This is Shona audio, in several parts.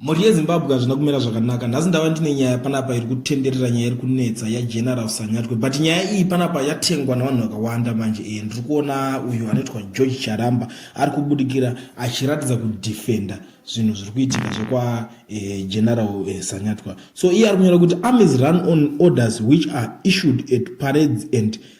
Mhuri yeZimbabwe hazvina kumira zvakanaka. Nhasi ndava ndine nyaya panapa iri kutenderera nyaya iri kunetsa yaGeneral Sanyatwe. But nyaya iyi panapa yatengwa navanhu vakawanda manje. E, ndiri kuona uyu anoitwa George Charamba ari kubudikira achiratidza kudefenda zvinhu zviri kuitika zvekwa e, General e, Sanyatwa. So iye ari kunyora kuti armies run on orders which are issued at parades and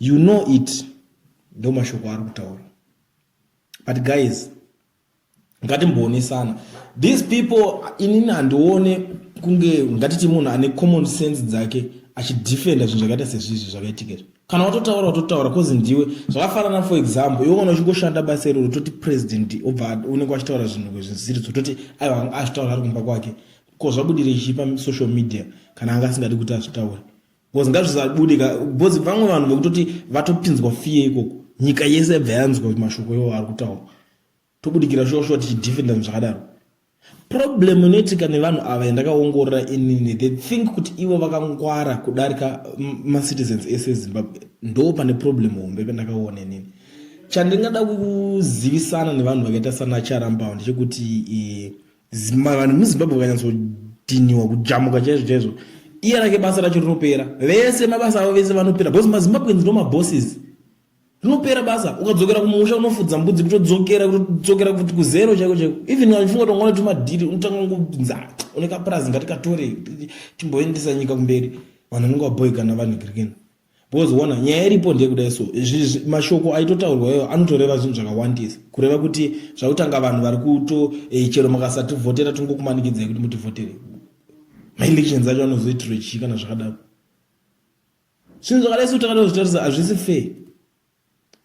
You know it ndo mashoko ari kutaura but guys ngatimboonesana these people inini handione kunge ngatiti munhu ane common sense dzake achidefenda zvinhu zvakaita sezvizvi zvakaitika izvi kana watotaura watotaura bcause ndiwe zvakafanana for example iwe kana uchingoshanda basa iroro toti president obva unenge wachitaura zvinhu kwezvisiri zototi aiwa azvitaura ari kumba kwake ko zvabudire chii pasocial media kana anga asingadi kuti azvitaure bcoz ngazvisabude ka bcoz vamwe vanhu vekutoti vatopinzwa fiye ikoko nyika yese yabva yanzwa mashoko iwo ari kutaura tobudikira shoshuwa tichidefenda zvakadaro problem inoitika nevanhu ava yandakaongorora inini they think kuti ivo vakangwara kudarika macitizens ese ezimbabwe ndo pane problem hombe pandakaona inini chandingada kuzivisana nevanhu vakaita sana charambao ndechekuti eh, vanhu muzimbabwe vakanyatsodhiniwa kujamuka chaizvo chaizvo iye rake basa racho rinopera vese mabasa avo vese vanopera because mazimbabweans no mabosses rinopera basa ukadzokera kumusha unofudza mbudzi kutodzokera kutodzokera kuti kuzero chaiko chaiko even achifunga kuti ungona tumadhiri unotanga kungonza une kapurazi ngatikatore timboendesa nyika kumberi vanhu vanenge vaboikana vanhu kirikena because ona nyaya iripo ndeyekudai so mashoko aitotaurwa iwayo anotoreva zvinhu zvakawandisa kureva kuti zvakutanga vanhu vari kuto eh, chero makasativhotera tingokumanikidzai kuti mutivhotere maelections acho anozoitirwe chii kana zvakadaro zvinhu zvakadai so takatozvitarisa hazvisi fair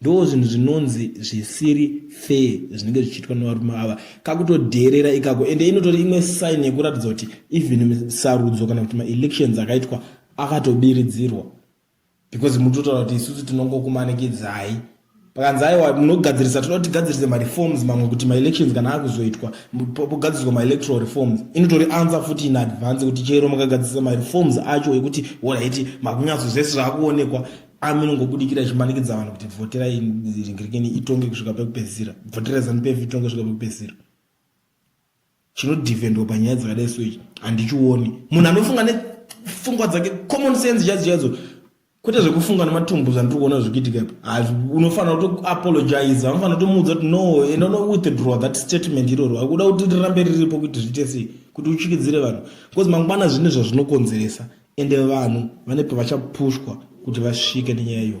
Ndoo zvinhu zvinonzi zvisiri fair zvinenge zvichiitwa nevarume ava kakutodheerera ikako ende inotori imwe sign yekuratidza kuti even sarudzo kana kuti maelections akaitwa akatobiridzirwa because mutotaura kuti isusu tinongokumanikidzai pakanzi aiwa munogadzirisa toda kuti tigadzirise mareforms mamwe kuti maelections kana akuzoitwa pogadziriswa maelectoral reforms inotori ansa futi in advance kuti chero makagadzirisa mareforms acho ekuti orit makunyatsozese zvaakuonekwa ami inongobudikira ichimanikidza vanhu kuti bvotera ringirikeni itonge kusvika pekupedzisira bvotera zanupf itonge kusvika pekupedzisira chinodhivhendwa panyaya dzakadai so ichi handichioni munhu anofunga nefungwa dzake common sense chaidzo chaidzo kwete zvekufunga nematumbu zvandiri kuona zvikuitika ipa unofanira kutoapologiza unofanira kutomuudza kuti no enda unowithdraw that statement iroro akuda kuti rirambe riripo kuti zviite sei kuti uchikidzire vanhu because mangwana zvine zvazvinokonzeresa Ende vanhu vane pavachapushwa kuti vasvike nenyaya iyo.